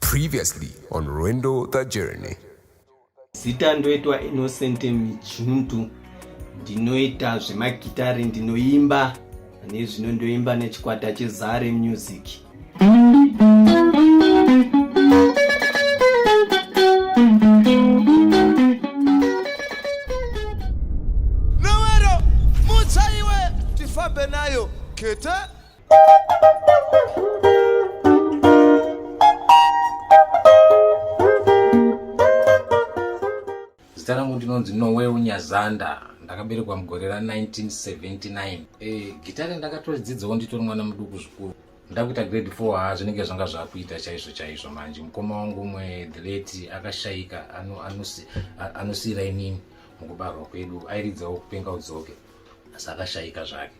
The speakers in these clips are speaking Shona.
Previously on Rwendo the Journey. Zita ndoitwa Innocent Mijundu. Ndinoita zvemagitare ndinoimba nezvino ndoimba nechikwata cheZare Music. Nowero mutsaiwe tifambe nayo kete zita rangu ndinonzi nowe unyazanda ndakaberekwa mugore ra 1979 e, gitare ndakatodzidzawo nditori mwana muduku zvikuru ndakuita grade 4 ha zvinenge zvanga zvakuita chaizvo chaizvo manje mukoma wangu umwe the late akashaika anosiyira inini mukubarwa kwedu airidzawo kupenga udzoke asi akashaika zvake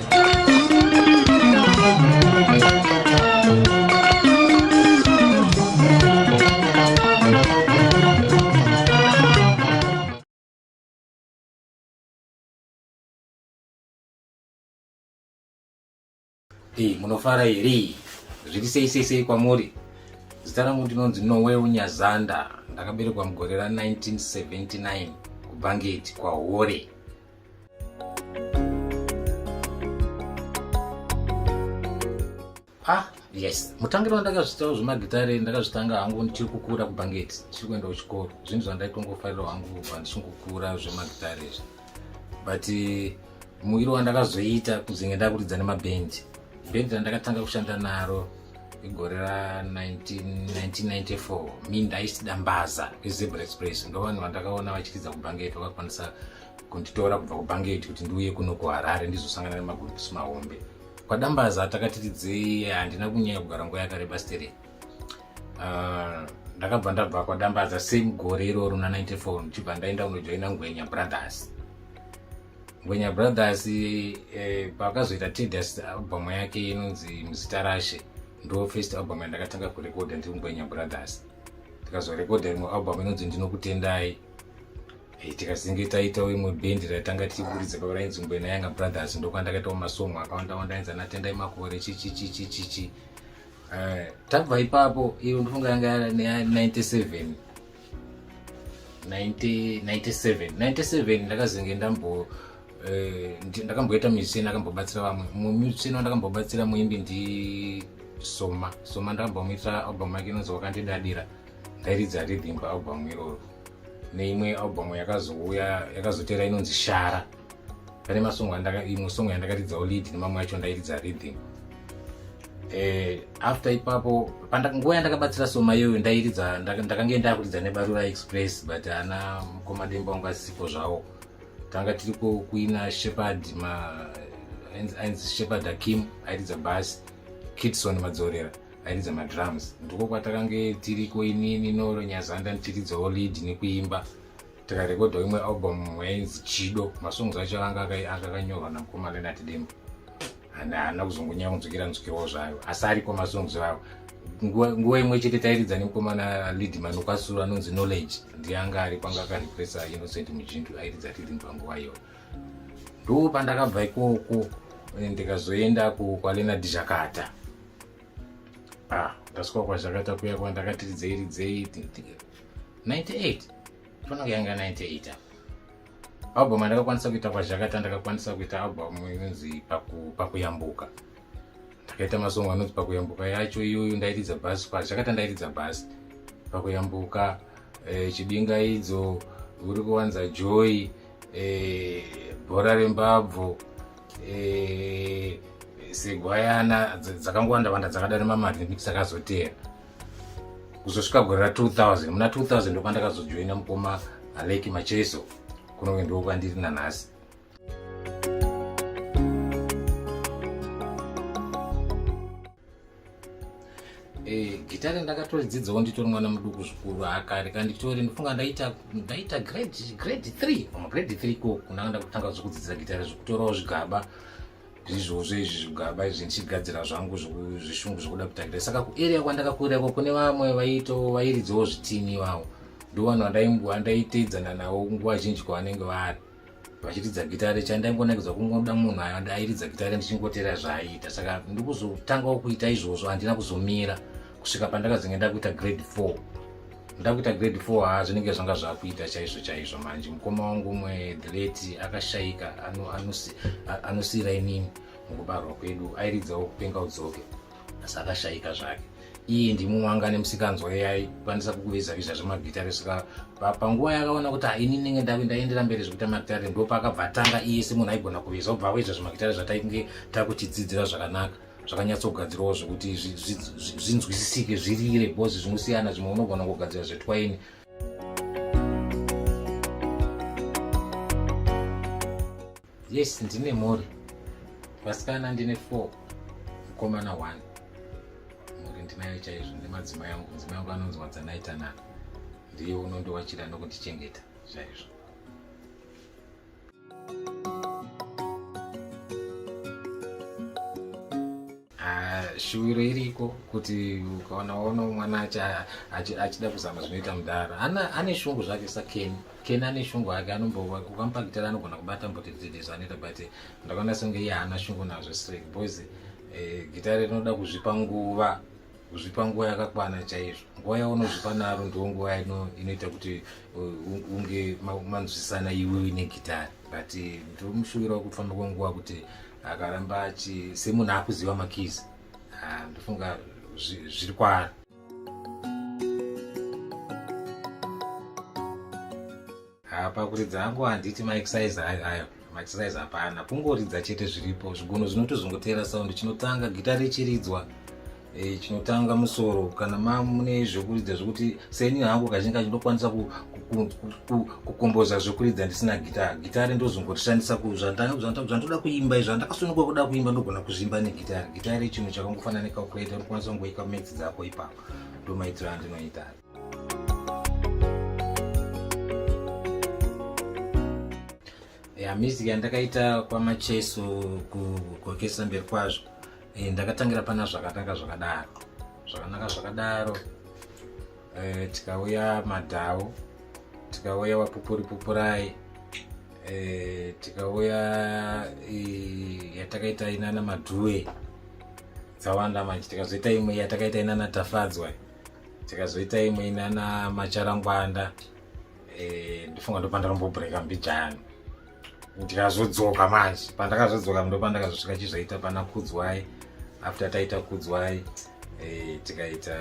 munofara here zviri sei sei sei kwamuri zita rangu ndinonzi nowe unyazanda ndakaberekwa mugore ra 1979 kubhangeti kwahore ah yes mutangiro wandakazvitawo zvemagitare ndakazvitanga hangu ndichiri kukura kubhangeti ndichiri kuenda kuchikoro zvinhu zvandaitongofarira hangu kubva ndichingokura zvemagitare izvi but eh, muwiri wandakazoita kuzenge ndakuridza nemabhendi bhendi randakatanga kushanda naro igore ra1994 mi ndaisida mbaza kwezebra express ndovanhu vandakaona vachiridza kubhangeti vakakwanisa kunditora kubva kubhangeti kuti ndiuye kuno kuharare ndizosangana nemagurupisi mahombe kwadambaza takatiridzei handina kunyanya kugara nguva yakareba sterei ah, ndakabva ndabva kwadambaza same gore iroro na 94 ndichibva ndaenda kunojoina ngwenya brothers ngwenya brothers eh, pakazoita tedius album yake inonzi muzita rashe ndo first album yandakatanga kurekoda ndiri ngwenya brothers ndikazorekoda rimwe album inonzi ndinokutendai eh, tikazinge taitawo imwe bhendi raitanga tichiburidza pava rainzi ngwena yanga brothers ndokuva ndakaitawo masongo akawanda wanda ainzi anatendai makore chichichichichichi eh, tabva ipapo iyo ndofunga yanga ya 97 97 97 ndakazinge ndambo eh, ndakamboita musician akambobatsira vamwe mumwe musician wandakambobatsira muimbi ndi soma soma ndakambomuita album yake inonzi wakandidadira ndairidza rhythm paalbum iroro neimwe album yakazouya yakazotera inonzi shara pane masong imwe song yandakaridzawo lead nemamwe acho ndairidza rhythm eh, after ipapo nguva yandakabatsira soma iyoyo ndairidza ndakange ndakuridza nebarura express but ana mukomademba wanga asipo zvawo tanga tiri kuina shepard ainzi shepard akim airidza bas kitson madzorera airidza madrums ndiko kwatakange tiriko inini noro nyazanda ndichiridzawo lead nekuimba tikarekodha imwe album yainzi chido masongs acho anga akakanyorwa namukoma lenat dembo haana kuzongonya kunzwikira nzwikirawo zvayo asi ariko masongs awo nguva imwe chete tairidza nemukomana lead man kwasuru anonzi knowledge ndiye anga ari panga akarepresa innocent mujindu airidza ridhim panguva iyoyo ndo pandakabva ikoko ndikazoenda kwalena dizhakata ah ndasvika kwazvakaita kuya kwa ndakati ridzei ridzei 98 fana kuyanga 98 apa album andakakwanisa kuita kwazvakata ndakakwanisa kuita album inonzi pakuyambuka ndakaita masongo anonzi pakuyambuka yacho iyoyo ndairidza bhasi kwazvakata ndairidza bhasi pakuyambuka eh, chibingaidzo uri kuwanza joy eh, bhora rembabvu Eh, segwayana dzakangowanda wanda dzakadana mamari nemiti dzakazoteera kuzosvika gore ra 2000 muna 2000 ndopandakazojoina mukoma aleki macheso kunonge ndoo kwandiri nanhasi Eh, gitare ndakatodzidzawo nditori mwana muduku zvikuru akare ka nditori ndifunga ndaita ndaita grade grade three pama grade three ko kunanga ndakutanga zvekudzidzira gitare zvekutorawo zvigaba zvizvozvo izvi zvigaba izvi ndichigadzira zvangu zvishungu zvekuda kuita gitare saka kuarea kwandakakurirako kune vamwe vaito vairidzawo zvitini iwawo ndovanhu vandaiteedzana navo nguva zhinji kwavanenge vari vachiridza gitare chandaingonakidzwa kungoda munhu airidza gitare ndichingotera zvaaiita saka ndikuzotangawo kuita izvozvo handina kuzomira kusvika pandakazenge ndakuita grade four ndakuita grade four haa zvinenge zvanga zvakuita chaizvo chaizvo manje mukoma wangu umwe the late akashaika anosiira inini mukubarwa kwedu airidzawo kupenga udzoke asi akashaika zvake iyi ndimumwe anga ane musikanzwa yaikwanisa kukuviza viza zvemagitare saka panguva yakaona kuti haini ndenge ndave ndaendera mberi zvekuita magitare ndo paakabva atanga iye semunhu aigona kuviza obva waizva zvemagitare zvataikunge takutidzidzira zvakanaka zvakanyatsogadzirwawo zvekuti zvinzwisisike zvirire bhozi zvinosiyana zvimwe unogona kugadzira zvetwaini Yes, ndine mhuri. Vasikana ndine 4, mkomana 1. Mhuri ndinayo chaizvo nemadzimai angu. Mudzimai wangu anonzi Wadzanai Tanaka. Ndiye unondiwachira nokundichengeta chaizvo. Ah, shuviro iriko kuti ukaona waona mwana achida kuzama zvinoita mudhara ane shungu zvake sakeni keni ane shungu ake anombokamupakitira anogona kubata mboti dzidi zvanoita but ndakaona senge iye haana shungu nazvo straight boys eh, gitare rinoda kuzvipa nguva kuzvipa nguva yakakwana chaizvo nguva yaunozvipa naro ndiwo nguva inoita kuti uh, unge manzwisana iwe uine gitare but eh, ndiri mushuviro wekufamba kwenguva kuti akaramba achi semunhu akuziva makizi ah, ndofunga zviri kwaari pakuridza hangu handiti maexercise ayo maexercise hapana kungoridza chete zviripo zvigunhu zvinotozongoteera sound chinotanga gita richiridzwa Eh, chinotanga musoro kana mamune zvekuridza zvekuti seni hangu kazhinji kacho ndokwanisa kukomboza zvekuridza ndisina gitari gitari ndozongotishandisa kuzvandoda kuimba izvo andakasununga kuda kuimba ndogona kuzvimba negitari gitari chinhu chakangofana necalculator unokwanisa kungoika max dzako ipapo ndomaitiro andinoita ya music yandakaita kwamacheso kugokesa mberi kwazvo e, ndakatangira pana zvakanaka zvakadaro zvakanaka zvakadaro e, tikauya madhau tikauya wapupuri pupurai e, tikauya e, yatakaita inana madhuwe dzawanda manje tikazoita imwe yatakaita inana tafadzwa tikazoita imwe inana macharangwanda e, ndifunga ndopandarombobhureka mbijani ndikazodzoka manje pandakazodzoka ndo pandakazosvika chizvaita pana kudzwai after taita kudzwai eh, tikaita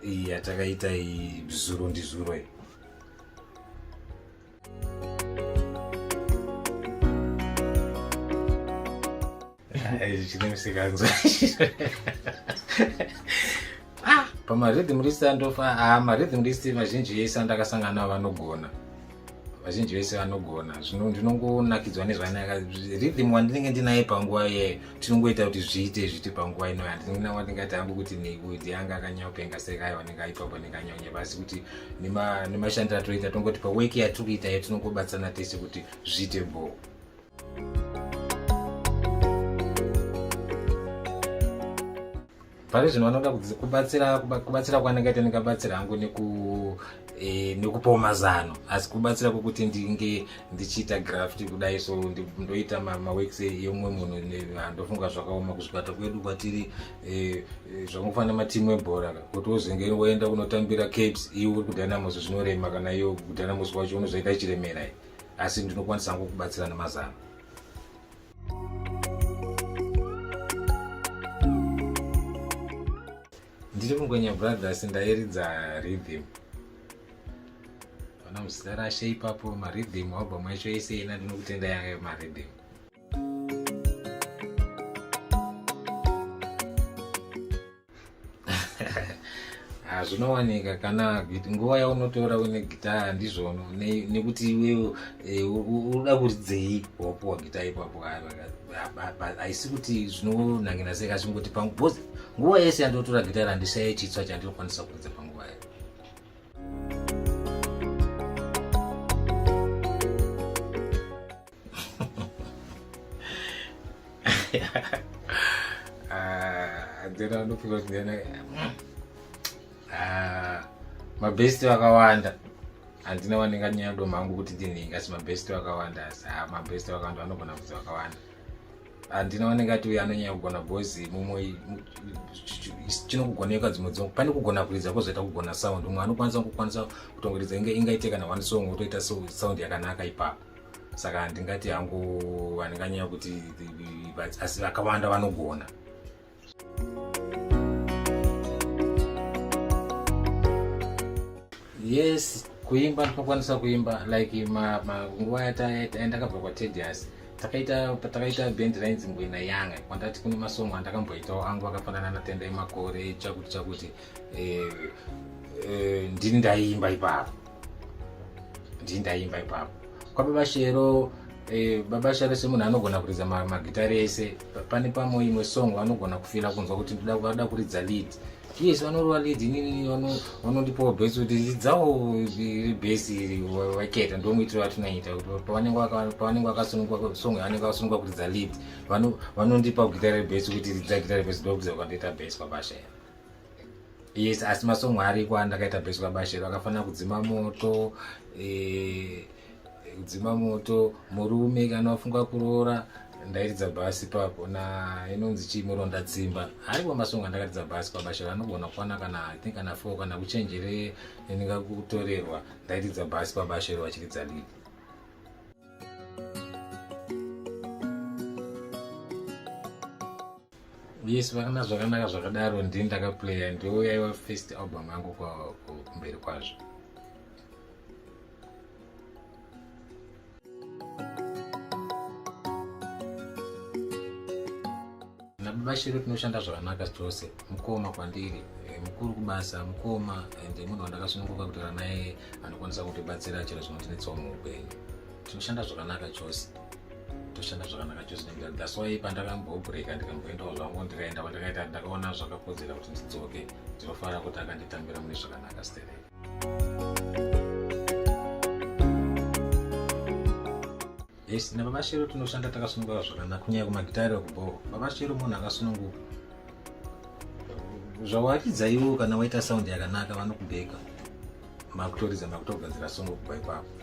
iyi yatakaita iyi zuro ndizuro iyi ah, pamarhythm list andofa ah, marhythm list vazhinji yese andakasangana navo vanogona vazhinji vese vanogona zvino ndinongonakidzwa nezvanaka rhythm wandinenge ndinaye panguva iyeyo tinongoita kuti zviite zviti panguva ino handina wandingati hangu kuti nekuti anga akanyaopenga sekai wanenge aipapo nekanyaunya pasi kuti nemashandiro atoita tongotipa weki yatiri kuita iyo tinongobatsana tese kuti zviite bhoo pari zvino vanoda kubatsira kubatsira kwanenge ita ndikabatsira hangu e, nekupawo mazano asi kubatsira kwokuti ndinge ndichiita graft kudai so ndoita maworks yomumwe munhu ndofunga zvakaoma kuzvipata kwedu kwatiri e, e, zvakungofanira matimu ebhora kuti wozenge woenda kunotambira capes iwe uri kudynamos zvinorema kana iyo kudynamos kwacho unozoita chiremera asi ndinokwanisa hangu kubatsira nemazano ndiri mungwenya brothers ndairidza rhythm ona muzita rashe ipapo marhythm album yacho yese ina ndinokutenda yange marhythm Ah, zvinowanika kana nguva yaunotora une gitaya ndizvono nekuti iwewe eh, unoda kuridzei wapuwa gitaya ipapo haisi kuti zvinonangina sei kachingoti pangu bcause nguva yese yandotora gitaya randishaye chitswa chandinokwanisa kuridza panguva yayo Andina ah, anopfeka kuti ndiyana ah, mabest vakawanda handina wanenga nyaya do mangu kuti ndinhingi asi mabest vakawanda asi ah, mabest vakawanda vanogona kuti vakawanda handina wanenge ati uyo anonyanya kugona bhozi mumwe chinokugoneka dzimwe dzimwe pane kugona kuridza kozoita kugona sound umwe anokwanisa kukwanisa kutongoridza ingaite kana one song wotoita sound yakanaka ipapo saka handingati hangu handinganyanya kuti asi vakawanda vanogona yes kuimba ndinokwanisa kuimba like nguva yandakabva kwatedius takaita patakaita band rainzi mbwena yanga kwandati kune masongo andakamboitawo angu akafanana natenda emakore chakuti chakuti eh, eh, ndini ndaiimba ipapo ndii ndaimba ipapo kwababa shero eh, baba shero semunhu anogona kuridza magitari ese pane pamwe imwe song vanogona kufila kunzwa kuti vanoda kuridza lead yes vanorova lead inini vanondipawo bhesi kuti dzidzawo bhesi iri vaketa ndomuitiro vatinoita pavanenge vakasunungwa song yavanenge vakasunungwa kuridza lead vanondipa gita rebhesi kuti ridza gita rebhesi ndokuza kwandoita bhesi kwabashaya yes asi masongo ariko andakaita beswa bashero akafanira kudzima moto eh, kudzima moto murume kana wafunga kuroora ndairidza bhasi papo na inonzi chii muronda tsimba ariko masongo andakaridza bhasi pabashero anogona kukwana kana i think kana four kana kuchenjere ndinga kutorerwa ndairidza bhasi pabashero vachiridza lidi yes vakana zvakanaka zvakadaro ndi ndakaplaya ndoyaiwa first album yangu kumberi kwazvo vashero tinoshanda zvakanaka tose mukoma kwandiri eh, mukuru kubasa mukoma and munhu wandakasununguka kutaura naye anokwanisa kutibatsira chero zvinotinetsawo muupenyu tinoshanda zvakanaka chose toshanda zvakanaka chose nekuda that's why pandakambobreaka ndikamboendawo zvangu ndikaenda kwandakaita ndakaona zvakakodzera kuti ndidzoke ndinofanira kuti akanditambira mune zvakanaka sterei yes nababa shero tinoshanda takasunungura zvakanaka kunyaya kumagitari okubhoo baba shero munhu akasununguka zvawakidza iwo kana waita saundi yakanaka vanokubheka makutoridza makutogadzira songo kubva ipapo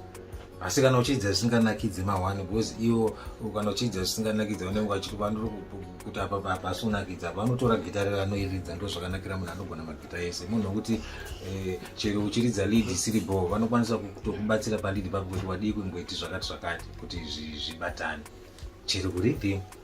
asi kana uchiidza zvisinganakidze mahwani because iwo kana uchiidza zvisinganakidze vanenge vachiti vanoti kuti apa papa asi unakidza apa vanotora gita rero anoiridza ndo zvakanakira munhu anogona magita ese munhu wekuti eh, chero uchiridza lead isiri bho vanokwanisa kutokubatsira palead pako kuti wadii kungoiti zvakati zvakati kuti zvibatane chero kuripi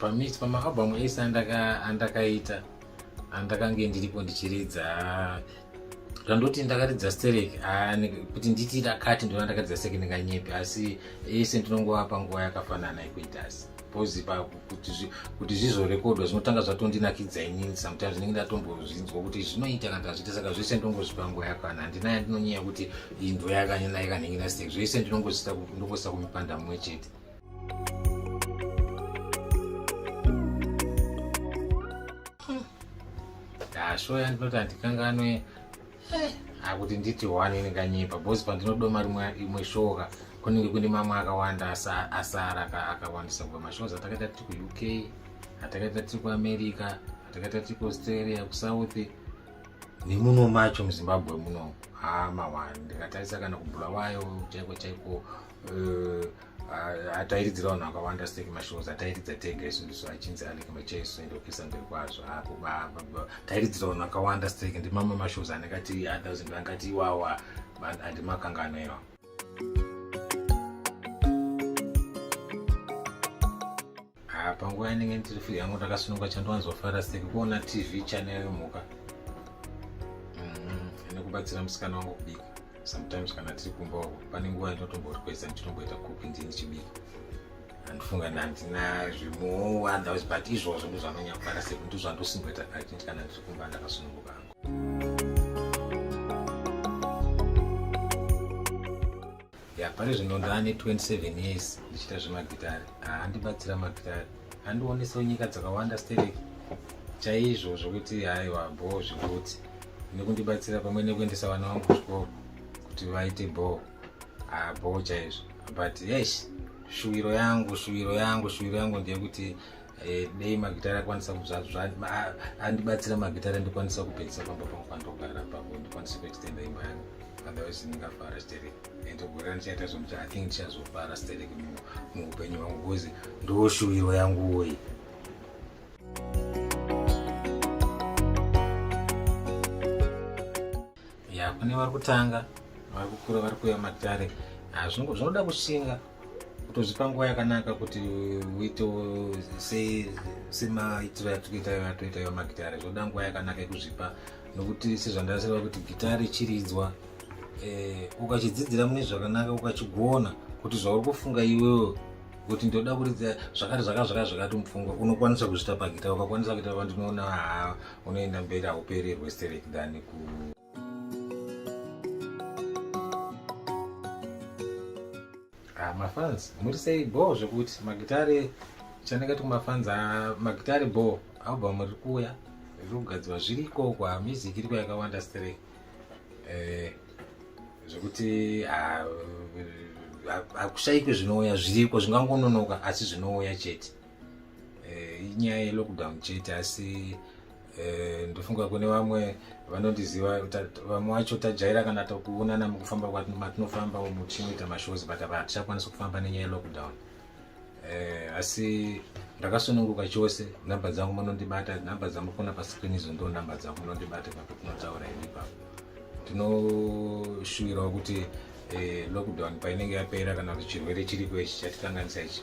pamix pamaabhamu ese andakaita andakange ndiripo ndichiridza zvandoti ndakaridza sterek kuti nditi dakati ndona ndakaridza sterek ndinganyepi asi ese ndinongova panguva yakafanana yekuitasi because pa kuti kuti zvizorekodwa zvinotanga zvatondinakidza inini sometimes ndinenge ndatombozvinzwa kuti zvinoita kana tazviita saka zvese ndongozvipa nguva yakwana handina yandinonyaya kuti indo yakanyana yakanhingi nastek zvese ndinongozita ndongosita kumipanda mumwe chete ndashoya ndinoti handikanganwe akuti nditi one ini kanyepa bhosi pandinodoma rimwe imwe shoka kunenge kune mamwe akawanda asara akawandisa kuva mashows atakaita tiri kuuk atakaita tiri kuamerica atakaita tiri kuaustralia kusouth nemuno macho muzimbabwe muno hamawani ndikatarisa kana kubulawayo chaiko chaiko eh, atairidzira vanhu vakawanda sek mashows atairidza tega isu ndisu achinzi alek machaisu ende kupisa mberi kwazvo tairidzira vanhu vakawanda sek ndimamwe mashows anenge ati athousand vangati iwawa andimakangano iwa Ah, panguva yanenge ndiri free yangu ndakasununga chandiwanzofara seki kuona tv channel yemhuka mm-hmm. nekubatsira musikana wangu kubika sometimes kana tiri kumba wako pane nguva yandinotombori kwese ndichitomboita kupi ndini chibika andifunga ndandina zvimuowa those but izvozvo ndozvanonyakufara seki ndozvandosimboita kati kana ndiri kumba ndakasununguka angu ya pari zvino ndane 27 years ndichiita zvemagitari handibatsira magitari handionesa nyika dzakawanda sterek chaizvo zvokuti haiwa bho zvigutsi nekundibatsira pamwe nekuendesa vana vangu kuzvikoro kuti vaite bho bho chaizvo but yesh shuwiro yangu shuwiro yangu shuwiro yangu ndeyekuti Eh, dei magitare akwanisa andibatsira magitare andikwanisa kupedzisa pamba pangu pandogara pangu ndikwanise kuextenda imba yangu otherwise ndingafara sterek and gore ndichaita zvomuti i think ndichazofara sterek muupenyu hwangu bcause ndoshuwiro yangu woyi ya kune vari kutanga vari kukura vari kuya magitare ah, zvinoda kushinga kutozvipa nguva yakanaka kuti uite semaitiro yatikuita atoita iwa magitare zvoda nguva yakanaka yekuzvipa nokuti sezvandaseva kuti gitare chiridzwa eh, ukachidzidzira mune zvakanaka ukachigona kuti zvauri kufunga iwewo kuti ndoda kuridza zvakati zvaka zvaka zvakati mupfungwa unokwanisa kuzvita pagita ukakwanisa kuita vandinoona haa unoenda mberi haupererwe sterek than ku Ah, mafans muri sei bho zvekuti magitare chandakati kumafans ah, magitare bho album riri kuuya riri kugadzirwa zviriko kwa music iriko yakawanda stere eh, zvekuti hakushaikwe ah, zvinouya zviriko zvingangononoka asi zvinouya chete eh, inyaya yelockdown chete asi Eh, ndofunga kune vamwe vanondiziva vamwe wacho tajaira kana tokuonana mukufamba matinofamba umu tichinoita mashows but apa hatichakwanisa kufamba nenyaya yelockdown eh, asi ndakasununguka chose nhamba dzangu munondibata nhamba dzamukona pascreen izo ndo nhamba dzangu munondibata papo tinotaura ini ipapo tinoshuwirawo kuti eh, lockdown painenge yapera kana kuti chirwere chiriko ichi chatikanganisa ichi